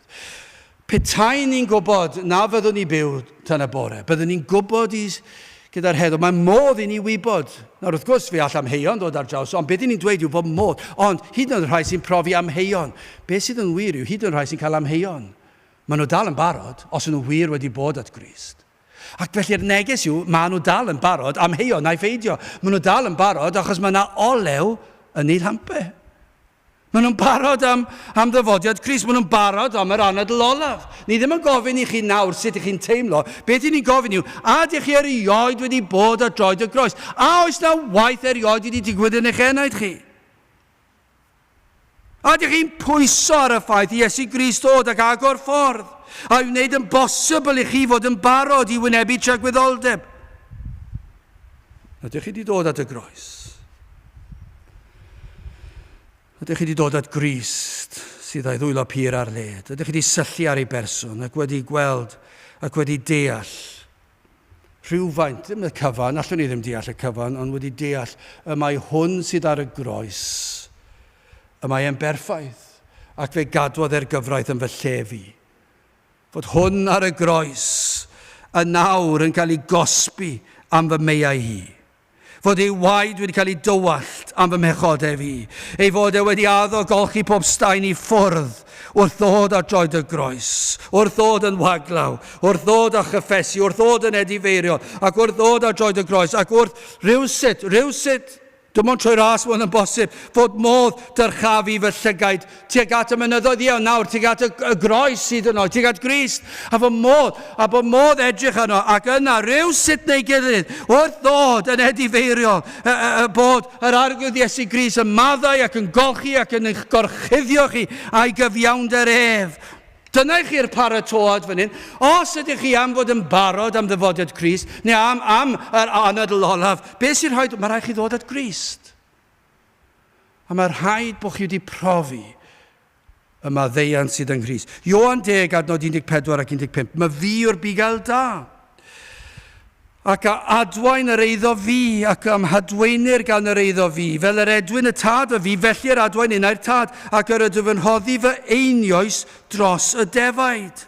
Petaen ni'n gwybod na fyddwn ni byw tan y bore, byddwn ni'n gwybod i gyda'r heddwch. Mae modd i ni wybod. Nawr, wrth gwrs, fe all amheuon ddod ar draws, ond beth i ni'n dweud yw bod modd. Ond, hyd yn oed y rhai sy'n profi amheuon, beth sydd yn wir yw, hyd yn oed rhai sy'n cael amheuon, maen nhw dal yn barod, os yn nhw wir wedi bod at Grist. Ac felly'r neges yw, maen nhw dal yn barod, amheuon naiff eidio. Maen nhw dal yn barod achos mae yna olew yn eu llampau. Maen nhw'n barod am, am ddyfodiad Crist, maen nhw'n barod am yr anadl olaf. Ni ddim yn gofyn i chi nawr sut ych chi'n teimlo, beth i ni'n gofyn yw, a ydych chi erioed wedi bod ar droed y groes? A oes na waith erioed wedi digwydd yn eich enaid chi? A ydych chi'n pwyso ar y ffaith i Iesu Grist ddod ac agor ffordd, a'i wneud yn bosibl i chi fod yn barod i wynebu tragwyddoldeb? Ydych chi wedi dod at y groes? Ydych chi wedi dod at Grist, sydd a'i ddwylo pur ar led? Ydych chi wedi syllu ar ei berson ac wedi gweld ac wedi deall rhywfaint, ddim y cyfan, allwn ni ddim deall y cyfan, ond wedi deall y mae hwn sydd ar y groes, y mae e'n berffaith, ac fe gadwodd e'r gyfraith yn fy lle fi. Fod hwn ar y groes, yn nawr yn cael ei gosbi am fy meiau hi. fod ei waed wedi cael ei dywallt am fy mhechodau i, ei fod e wedi addo golchi pob staen i ffwrdd, wrth ddod ar droed y groes, wrth ddod yn waglaw, wrth ddod a chyffesu, wrth ddod yn edifeirio, ac wrth ddod ar droed y groes, ac wrth rhywsut, rhywsut, dim ond trwy ras mae hwn yn bosib, fod modd dyrchafu fy llygaid tuag at y mynyddoedd, ie, ond nawr, tuag at y, y groes sydd yno, tuag at Grist, a fy modd, a bod modd edrych arno, ac yna, rhyw sut neu gilydd, wrth ddod yn edifeiriol, y, y, y bod yr arglwydd Iesu Grist yn maddau ac yn golchi ac yn eich gorchuddio chi a'i gyfiawnder ef. Dyna i chi'r paratoad fan hyn. Os ydych chi am fod yn barod am ddyfodiad Grist, neu am, am yr anadl olaf, beth sy'n rhoi... Mae rhaid chi ddod at Grist. A mae rhaid bod chi wedi profi y maddeuant sydd yng Nghrist. Ioan 10, adnod 14 ac 15. Mae fi yw'r bugail da. Ac a adwaen yr eiddo fi, ac am hadwaenir gan yr eiddo fi, fel yr edwyn y tad fy fi, felly yr adwaen innau'r tad, ac yr ydw yn rhoddi fy einioes dros y defaid.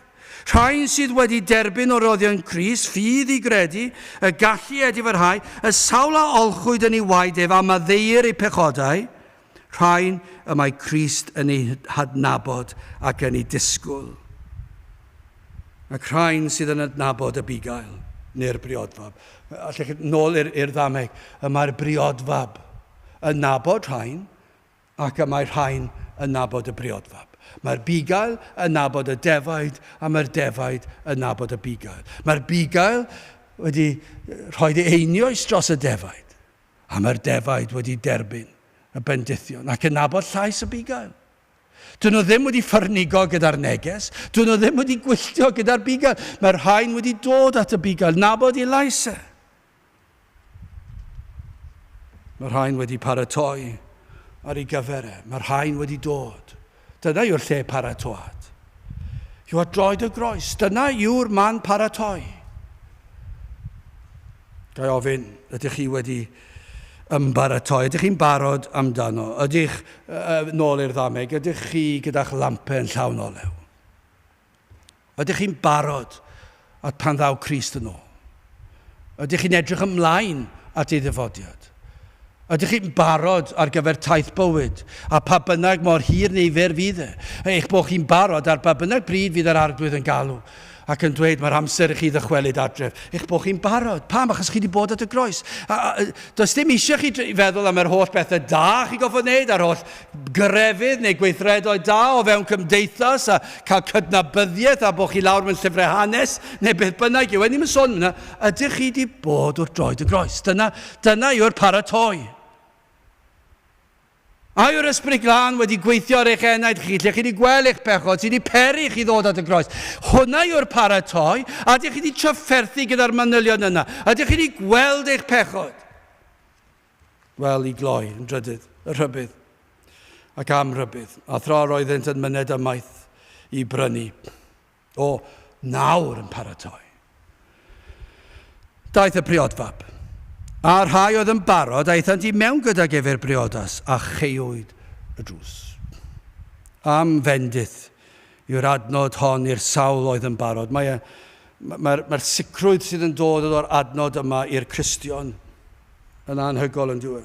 Rhain sydd wedi derbyn o roddion Crist ffydd i gredu y galli ef dyfrhau y sawl a olchwyd yn ei waed ef a maddeuir eu pechodau, rhain y mae Crist yn eu hadnabod ac yn eu disgwyl. Ac rhain sydd yn adnabod y bugail, neu'r briodfab. Allech chi nôl i'r, i'r ddameg, y mae'r briodfab yn nabod rhain, ac y mae rhain yn nabod y briodfab. Mae'r bugail yn nabod y defaid, a mae'r defaid yn nabod y bugail. Mae'r bugail wedi rhoi ei einioes dros y defaid, a mae'r defaid wedi derbyn y bendithion ac yn nabod llais y bugail. Dyn nhw ddim wedi ffyrnigo gyda'r neges, dyn nhw ddim wedi gwylltio gyda'r bugail. Mae'r rhain wedi dod at y bugail, nabod ei lais e. Mae rhain wedi paratoi ar ei gyfer e. Mae rhain wedi dod. Dyna yw'r lle paratoad. Yw at droed y groes. Dyna yw'r man paratoi. Gai ofyn, ydych chi wedi ymbaratoi? Ydych chi'n barod amdano? Ydych, uh, nôl i'r ddameg, ydych chi gyda'ch lampen llawn olew? Ydych chi'n barod at pan ddaw Crist yn ôl? Ydych chi'n edrych ymlaen at ei ddyfodiad? Ydych chi'n barod ar gyfer taith bywyd, a pha bynnag mor hir neu fer fydd e, eich bod chi'n barod ar ba bynnag bryd fydd yr Arglwydd yn galw ac yn dweud mae'r amser i chi ddychwelyd adref, eich bod chi'n barod. Pam? Achos chi wedi bod at y groes. A, a, does dim eisiau chi feddwl am yr holl bethau da chi'n gofod wneud a'r holl grefydd neu gweithredoedd da o fewn cymdeithas a cael cydnabyddiaeth a bod chi lawr mewn llyfrau hanes neu beth bynnag yw e. Ni'n sôn am hynna. Ydych chi wedi bod wrth droed y groes? Dyna, dyna yw'r paratoi. A yw'r ysbryd glân wedi gweithio ar eich enaid chi, lle chi wedi gweld eich pechod sydd wedi peri chi ddod at y groes? Hwna yw'r paratoi, a ydych chi wedi trafferthu gyda'r manylion yna? Ydych chi wedi gweld eich pechod? Wel, i gloi, yn drydydd, y rhybudd. Ac am rhybudd. A thra yr oeddynt yn myned ymaith i brynu. O, nawr yn paratoi. Daeth y priodfab. A rhai oedd yn barod aethant i mewn gydag ef i'r briodas, a cheuwyd y drws. Am fendith yw'r adnod hon i'r sawl oedd yn barod. Mae'r mae, mae, mae sicrwydd sydd yn dod o'r adnod yma i'r Cristion. yn anhygol yn dyw e?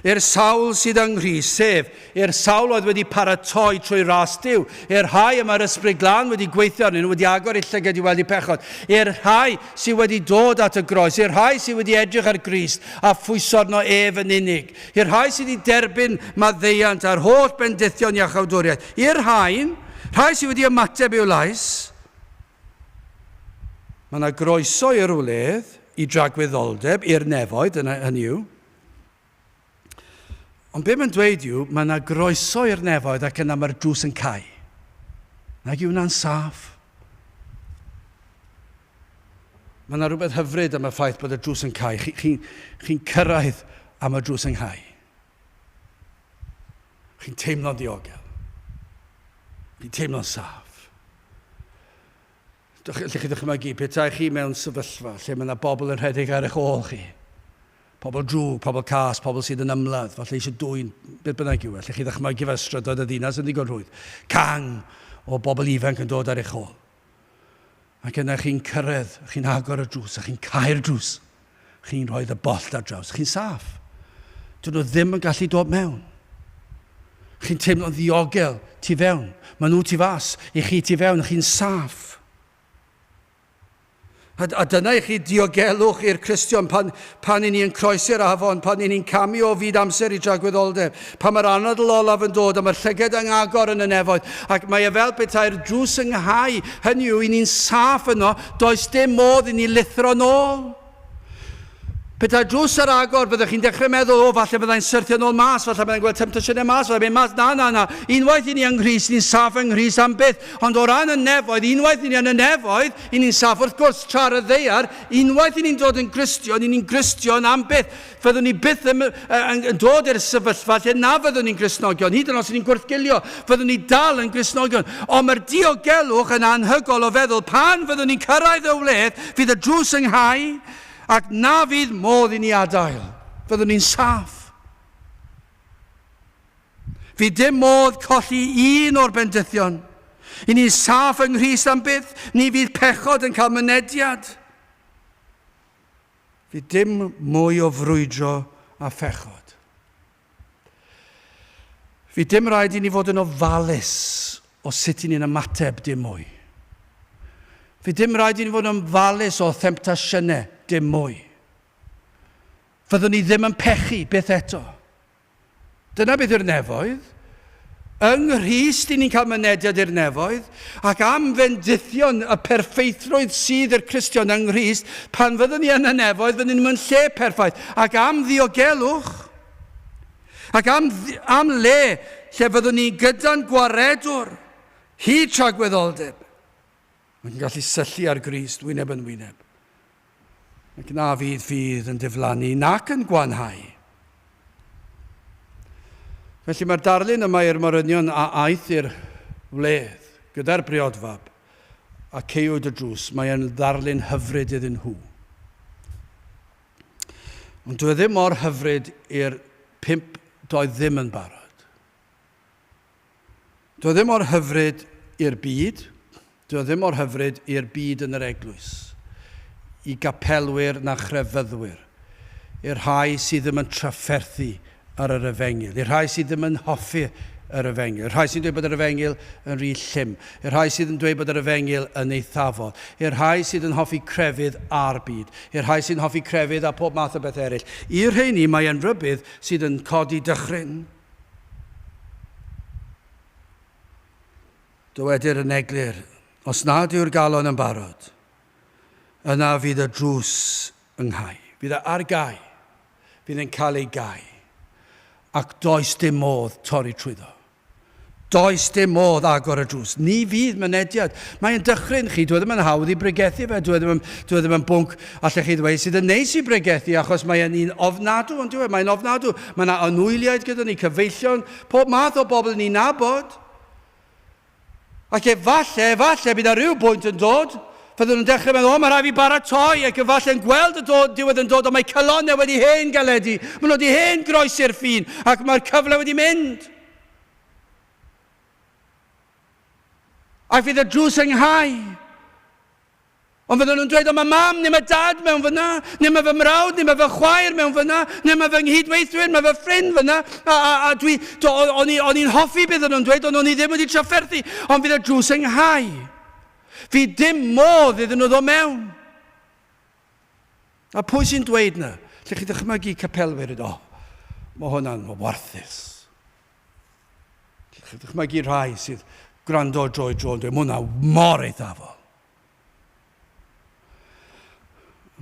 I'r sawl sydd yng Nghrist, sef i'r sawl oedd wedi paratoi trwy ras Dyw, i'r rhai y mae'r Ysbryd Glân wedi gweithio arnyn nhw, wedi agor eu llyged i weld eu pechod, i'r rhai sydd wedi dod at y groes, i'r rhai sydd wedi edrych ar Grist a phwyso arno ef yn unig, i'r rhai sydd wedi derbyn maddeuant a'r holl bendithion iachawdwriaeth, i'r rhain, rhai sydd wedi ymateb i'w lais, Mae yna groeso i'r wledd, i dragwyddoldeb, i'r nefoedd, dyna hynny yw. Ond be mae'n dweud yw, mae yna groeso i'r nefoedd ac yna mae'r drws yn cau. Nag yw hwnna'n saff? Mae yna rhywbeth hyfryd am y ffaith bod y drws yn cau. Chi'n chi, chi cyrraedd am y drws yn cau. Chi'n teimlo'n diogel. Chi'n teimlo'n saff. Lle chi ddychmygu, petai chi mewn sefyllfa lle mae yna bobl yn rhedeg ar eich ôl chi. Pobl drwg, pobl cas, pobl sydd yn ymladd, falle eisiau dwy'n beth bynnag yw e. Lle chi ddychmygu fe strydoedd y ddinas yn ddigon rhwydd. Cang o bobl ifanc yn dod ar eich ôl. Ac yna chi'n cyrraedd, chi'n agor y drws, a chi'n cau'r drws. Chi'n rhoi y bollt ar draws. Chi'n saff. Dyn nhw ddim yn gallu dod mewn. Chi'n teimlo'n ddiogel tu fewn. Mae nhw tu fas, i chi tu fewn, chi'n saff. A dyna i chi diogelwch i'r Cristion pan, pan i ni yn croesi'r afon, pan i ni'n camu o fyd amser i dragwyddoldeb, pan mae'r anadl olaf yn dod a mae'r llyged yn agor yn y nefoedd, ac mae e fel petai'r drws yn nghau, hynny yw, i ni'n saff yno, does dim modd i ni lithro'n ôl. Petai drws ar agor, byddech chi'n dechrau meddwl, 'O, falle byddai'n syrthio nôl mas, falle byddai'n gweld temtasiynau mas, fyddai'n mynd mas. Na, na, na. Unwaith i ni yng Nghrist, ni'n saff yng Nghrist am byth. Ond o ran y nefoedd, unwaith i ni yn y nefoedd, i ni'n saff wrth gwrs, tra ar y ddaear. Unwaith i ni'n dod yn Gristion, i ni'n Gristion am byth. Fyddwn ni byth yn, yn, yn dod i'r sefyllfa lle na fyddwn ni'n Gristnogion, hyd yn oes i ni'n gwrthgilio. Fyddwn ni dal yn Gristnogion. Ond mae'r diogelwch yn anhygoel o feddwl, pan fyddwn ni'n cyrraedd y wledd, fydd y drws ynghau, Ac na fydd modd i ni adael. Fyddwn ni'n saff. Fydd dim modd colli un o'r bendithion. I ni'n saff yng Nghrist am byth, ni fydd pechod yn cael mynediad. Fydd dim mwy o frwydro a phechod. Fydd dim rhaid i ni fod yn ofalus o sut i ni'n ymateb, dim mwy. Fydd dim rhaid i ni fod yn ymfalus o themptasiynau, dim mwy. Fyddwn ni ddim yn pechu, byth eto. Dyna beth yw'r nefoedd. Yng Nghrist i ni'n cael mynediad i'r nefoedd, ac am fendithion y perffeithrwydd sydd i'r Cristion yng Nghrist, pan fyddwn ni yn y nefoedd, fyddwn ni mewn lle perffaith, ac am ddiogelwch, ac am, am le lle fyddwn ni gyda'n Gwaredwr, hyd tragwyddoldeb. Mae'n gallu syllu ar Grist, wyneb yn wyneb. ac na fydd ffydd yn diflannu nac yn gwanhau. Felly mae'r darlun yma i'r morynion a aeth i'r wledd gyda'r briodfab a ceiwyd y drws, mae e'n ddarlun hyfryd iddyn nhw. Ond dwi e ddim mor hyfryd i'r pimp doedd ddim yn barod. Dio ddim mor hyfryd i'r byd, dio ddim mor hyfryd i'r byd yn yr eglwys, i gapelwyr na chrefyddwyr, i'r rhai sydd ddim yn trafferthu ar yr efengyl, i'r rhai sydd ddim yn hoffi yr efengyl, i'r rhai sy'n dweud bod yr efengyl yn rhy llym, i'r rhai sydd yn dweud bod yr efengyl yn eithafol, i'r rhai sydd yn hoffi crefydd a'r byd, i'r rhai sy'n hoffi crefydd a phob math o bethau eraill. I'r rheini mae e'n rybudd sydd yn codi dychryn. Dywedir yn eglur, os nad yw'r galon yn barod, yna fydd y drws yng nghau. Bydd e ar gau, bydd e'n cael ei gau, ac does dim modd torri trwyddo. Does dim modd agor y drws. Ni fydd mynediad. Mae e'n dychryn chi. Dyw e ddim yn hawdd i bregethu fe. Dyw e ddim yn, dyw e ddim yn bwnc, allech chi ddweud, sydd yn neis i bregethu, achos mae e'n un ofnadw, ond dyw e, mae'n ofnadw. Mae yna anwyliaid gyda ni, cyfeillion, pob math o bobl ni'n nabod. Ac efallai, efallai, bydd ar ryw bwynt yn dod, fydden nhw'n dechrau meddwl, o, mae rhaid fi baratoi, ac efallai yn gweld y dod, diwedd yn dod, ond mae calonnau wedi hen galedu, maen nhw wedi hen groesi'r ffin, ac mae'r cyfle wedi mynd. Ac fydd y drws yn nghau. Ond fydden nhw'n dweud, o mae mam neu mae dad mewn fyna, neu mae fy mrawd neu mae fy chwaer mewn fyna, neu mae fy nghydweithwyr, mae fy ffrind fyna, a, a, a dwi, do, o'n i'n hoffi beth o'n nhw'n dweud, ond o'n i ddim wedi trafferthu, ond fydd y drws yn nghau. Fi dim modd iddyn nhw ddo mewn. A pwy sy'n dweud 'na? Lle chi'n dychmygu capelwyr yn, o, mae hwnna'n warthus. Lle chi'n dychmygu rhai sydd gwrando dro i dro yn dweud, mae hwnna mor eithafol.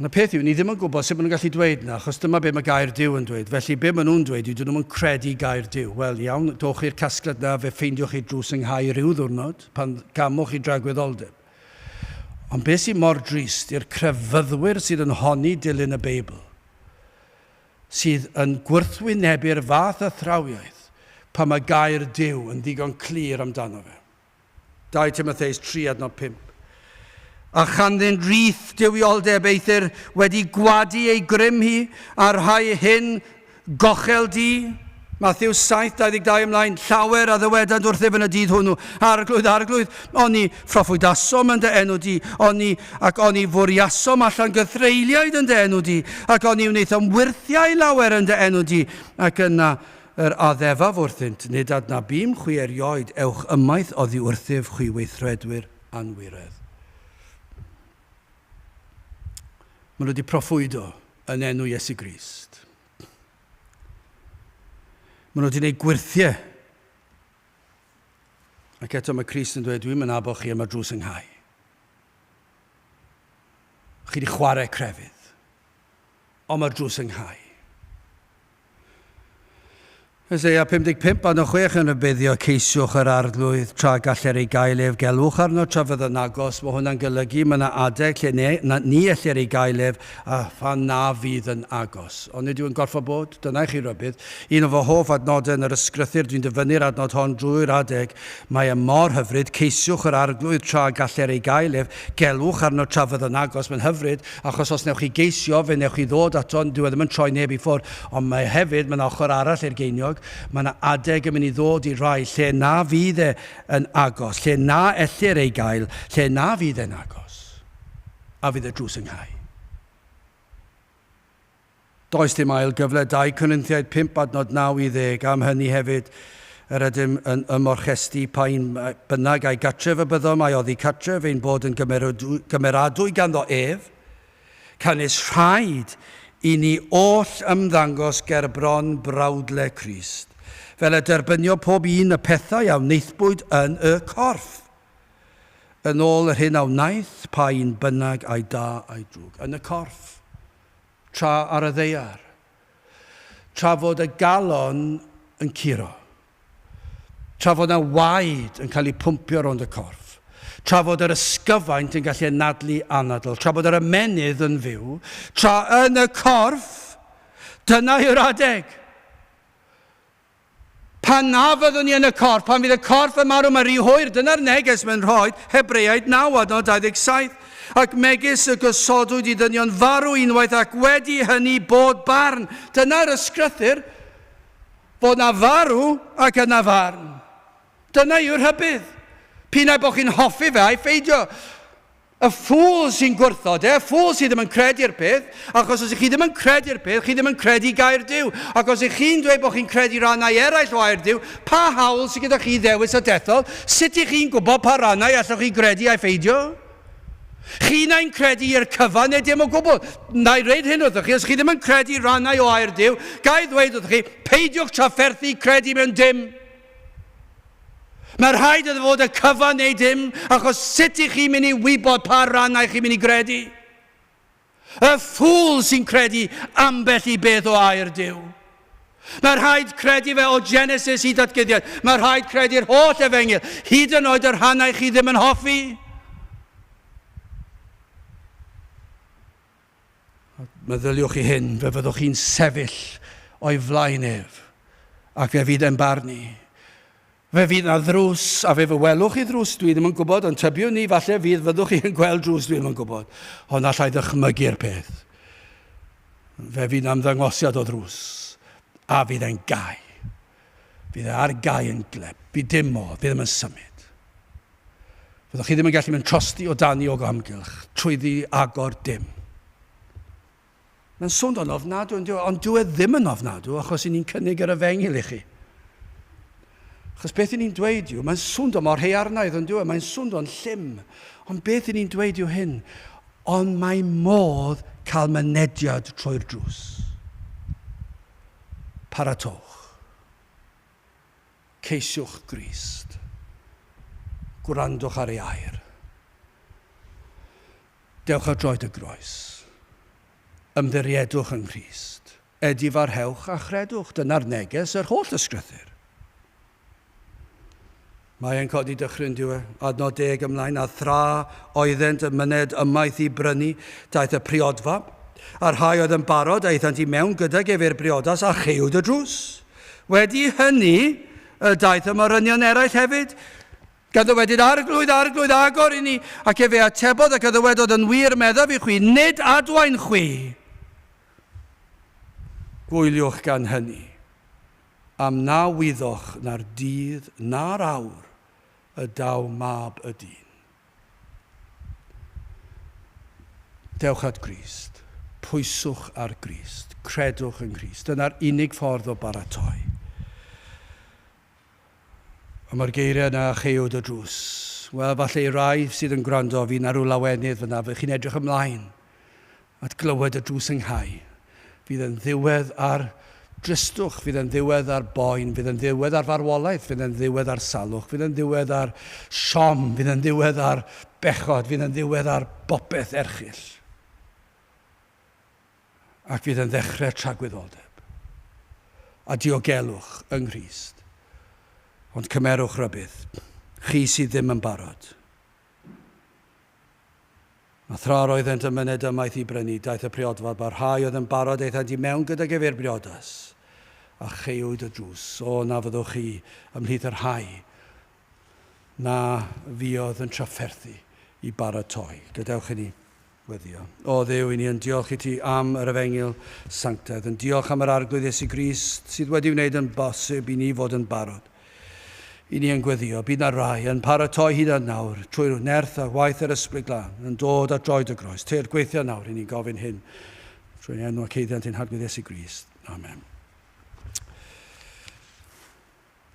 Ond y peth yw, ni ddim yn gwybod sut maen nhw'n gallu dweud yna, achos dyma beth mae gair Dyw yn dweud. Felly, beth maen nhw'n dweud yw, dyn nhw'n credu gair Dyw. Wel, iawn, dowch i'r casgliad yna, fe ffeindiwch chi drws ynghau rhyw ddwrnod, pan gamwch i dragwyddoldeb. Ond beth sydd mor drist i'r crefyddwyr sydd yn honni dilyn y Beibl, sydd yn gwrthwynebu'r fath athrawiaeth pan mae gair Duw yn ddigon clir amdano fe. 2 Timotheus 3 adnod 5. A chanddynt rith dywioldeb eithr wedi gwadu ei grym hi, a rhai hyn Gochel du, Mathews 7:22 ymlaen, Llawer a ddywedant wrthyf yn y dydd hwnnw, Arglwydd, Arglwydd, oni phroffwydasom yn dy enw di, oni, ac oni fwriasom allan gythreuliaid yn dy enw di, ac oni wnaethom wyrthiau lawer yn dy enw di? Ac yna yr addefaf wrthynt, Nid adnabym chwi erioed, ewch ymaith oddi wrthyf, chwi weithredwyr anwiredd. Maen nhw wedi proffwydo yn enw Iesu Grist. Maen nhw wedi gwneud gwirthiau. Ac eto mae Crist yn dweud, dwi'n mynd abo chi yma drws ynghau. Chi wedi chwarae crefydd. Ond mae'r drws yn cau. Os ei a 55 a 6 yn rhybuddio ceisiwch yr arglwydd tra galler ei gael ef gelwch arno tra fydd yn agos mae hwnna'n golygu mae yna adeg lle ne, na, ni ellir ei gael ef a phan na fydd yn agos ond nid yw'n gorfod bod dyna i chi rybudd un o fy hoff adnodau yn yr ysgrythyr dwi'n dyfynnu'r adnod hon drwy'r adeg mae e mor hyfryd ceisiwch yr arglwydd tra galler ei gael ef gelwch arno tra fydd yn agos mae'n hyfryd Achos os wnewch chi geisio, fe wnewch chi ddod ato, dyw e ddim yn troi neb i ffwrdd, ond mae hefyd, mae 'na ochr arall i'r geiniog, mae 'na adeg yn mynd i ddod i rai lle na fydd e yn agos, lle na ellir ei gael, lle na fydd e'n agos, a fydd y drws yn cau. Does dim ail gyfle 'Dau Corinthiaid 5 adnod 9 i 10 am hynny hefyd, yr ydym yn ymorchestu pa un bynnag a'i gartref y byddom a'i oddi cartref ein bod yn gymeradwy ganddo ef, canys rhaid i ni oll ymddangos ger bron brawdle Crist, fel y derbynio pob un y pethau a wnaethpwyd yn y corff, yn ôl yr hyn a wnaeth pa un bynnag ai da ai drwg, yn y corff. tra ar y ddaear, tra fod y galon yn curo, tra fod yna waed yn cael ei pwmpio rownd y corff, tra fod yr ysgyfaint yn gallu anadlu anadl, tra bod yr ymennydd yn fyw, tra yn y corff, dyna yw'r adeg! Pan na fyddwn ni yn y corff, pan fydd y corff yn marw, mae rhy hwyr, dyna'r neges mae'n rhoi, Hebreaid 9, adnod 27, ac megis y gosodwyd i ddynion farw unwaith ac wedi hynny bod barn, dyna'r ysgrythyr, fod na farw ac yna farn. Dyna yw'r rhybudd. P'un ai bod chi'n hoffi fe ai pheidio, Y ffŵl sy'n gwrthod e, ffŵl sydd ddim yn credu'r peth, achos os ych chi ddim yn credu'r peth, chi ddim yn credu gair Duw. Ac os ych chi'n dweud bod chi'n credu rannau eraill o air Duw, pa hawl sydd gyda chi ddewis y dethol? Sut ych chi'n gwybod pa rannau allwch chi gredu ai pheidio? Chi nain credu i'r cyfan neu dim o gwbl. Na i reid hyn wrthych chi, os chi ddim yn credu rannau o air Duw, ga i ddweud wrthych chi, peidiwch trafferthu credu mewn dim. Mae rhaid iddo fod y cyfan neu dim, achos sut i chi mynd i wybod pa rannau chi'n mynd i gredu? Y ffŵl sy'n credu ambell i beth o air Dyw. Mae rhaid credu fe o Genesis i datguddiad. Mae rhaid credu'r holl efengyl, hyd yn oed y rhannau chi ddim yn hoffi. Meddyliwch i hyn, fe fyddwch chi'n sefyll o'i flaen ef, ac fe fydd e'n barnu. Fe fydd na ddrws, a fe fy welwch i ddrws, dwi ddim yn gwybod, ond tybiwn ni, falle fydd fyddwch chi yn gweld drws, dwi ddim yn gwybod, ond allai ddychmygu'r peth. Fe fydd na ymddangosiad o ddrws, a fydd e'n gau. Fydd e ar gau yn gleb. Bydd dim modd, bydd e ddim yn symud. Fyddwch chi ddim yn gallu mynd trosti o dan iog o amgylch, trwyddi, agor, dim. Mae'n swnio yn ofnadw yn dyw, ond dyw e ddim yn ofnadw achos i ni'n cynnig yr efengyl i chi. Achos beth i ni'n dweud yw, mae'n swnio mor hearnaidd yn dyw e, mae'n swnio'n llym, ond beth i ni'n dweud yw hyn, ond mae modd cael mynediad trwy'r drws. Paratowch. Ceisiwch Grist. Gwrandwch ar ei air. Dewch ar droed y groes. Ymddiriedwch yng Nghrist. Edifarhewch a chredwch, dyna'r neges yr holl ysgrythyr. Mae e'n codi dychryn, dyw e. Adnod deg ymlaen, a thra oeddent yn myned ymaith i brynu, daeth y priodfa, a'r rhai oedd yn barod, aethant i mewn gydag ef i'r briodas, a cheuwyd y drws. Wedi hynny, y daeth y morynion eraill hefyd. Gan ddywedyd, Arglwydd, Arglwydd, agor i ni! Ac efe atebodd ac a ddywedodd, Yn wir meddaf i chwi, nid adwaen chwi! Gwyliwch gan hynny. Am na wyddoch na'r dydd na'r awr y daw Mab y dyn. Dewch at Grist. Pwyswch ar Grist. Credwch yng Nghrist. Dyna'r unig ffordd o baratoi. A mae'r geiriau yna a cheuwyd y drws. Wel, falle i rai sydd yn gwrando, fi na rhyw lawenydd fanna, fy chi'n edrych ymlaen. At glywed y drws ynghau. Fydd e'n ddiwedd ar dristwch, fydd e'n ddiwedd ar boen, fydd e'n ddiwedd ar farwolaeth, fydd e'n ddiwedd ar salwch, fydd e'n ddiwedd ar siom, fydd e'n ddiwedd ar bechod, fydd e'n ddiwedd ar bopeth erchyll. Ac fydd e'n ddechrau tragwyddoldeb a diogelwch yng Nghrist. Ond cymerwch rybudd, chi sydd ddim yn barod. A thra yr oeddent yn myned ymaith i brynu, daeth y priodfa, ba rhai oedd yn barod aethant i mewn gydag ef i'r briodas, a cheuwyd y drws. O, na fyddwch chi ymhlith y rhai na fuodd yn trafferthu i baratoi. Gadewch i ni Weddïo. O Dduw, i ni yn diolch i ti am yr Efengyl sanctaidd, yn diolch am yr Arglwydd Iesu Grist sydd wedi wneud yn bosib i ni fod yn barod. I ni yn gweddio, bydd na rai yn paratoi hyd at nawr, trwy'r nerth a waith yr Ysbryd Glân, yn dod at droed y groes, teir gweithiau nawr, i ni'n gofyn hyn, trwy'n enw a ceiddiant ein Harglwydd Iesu Grist. Amen.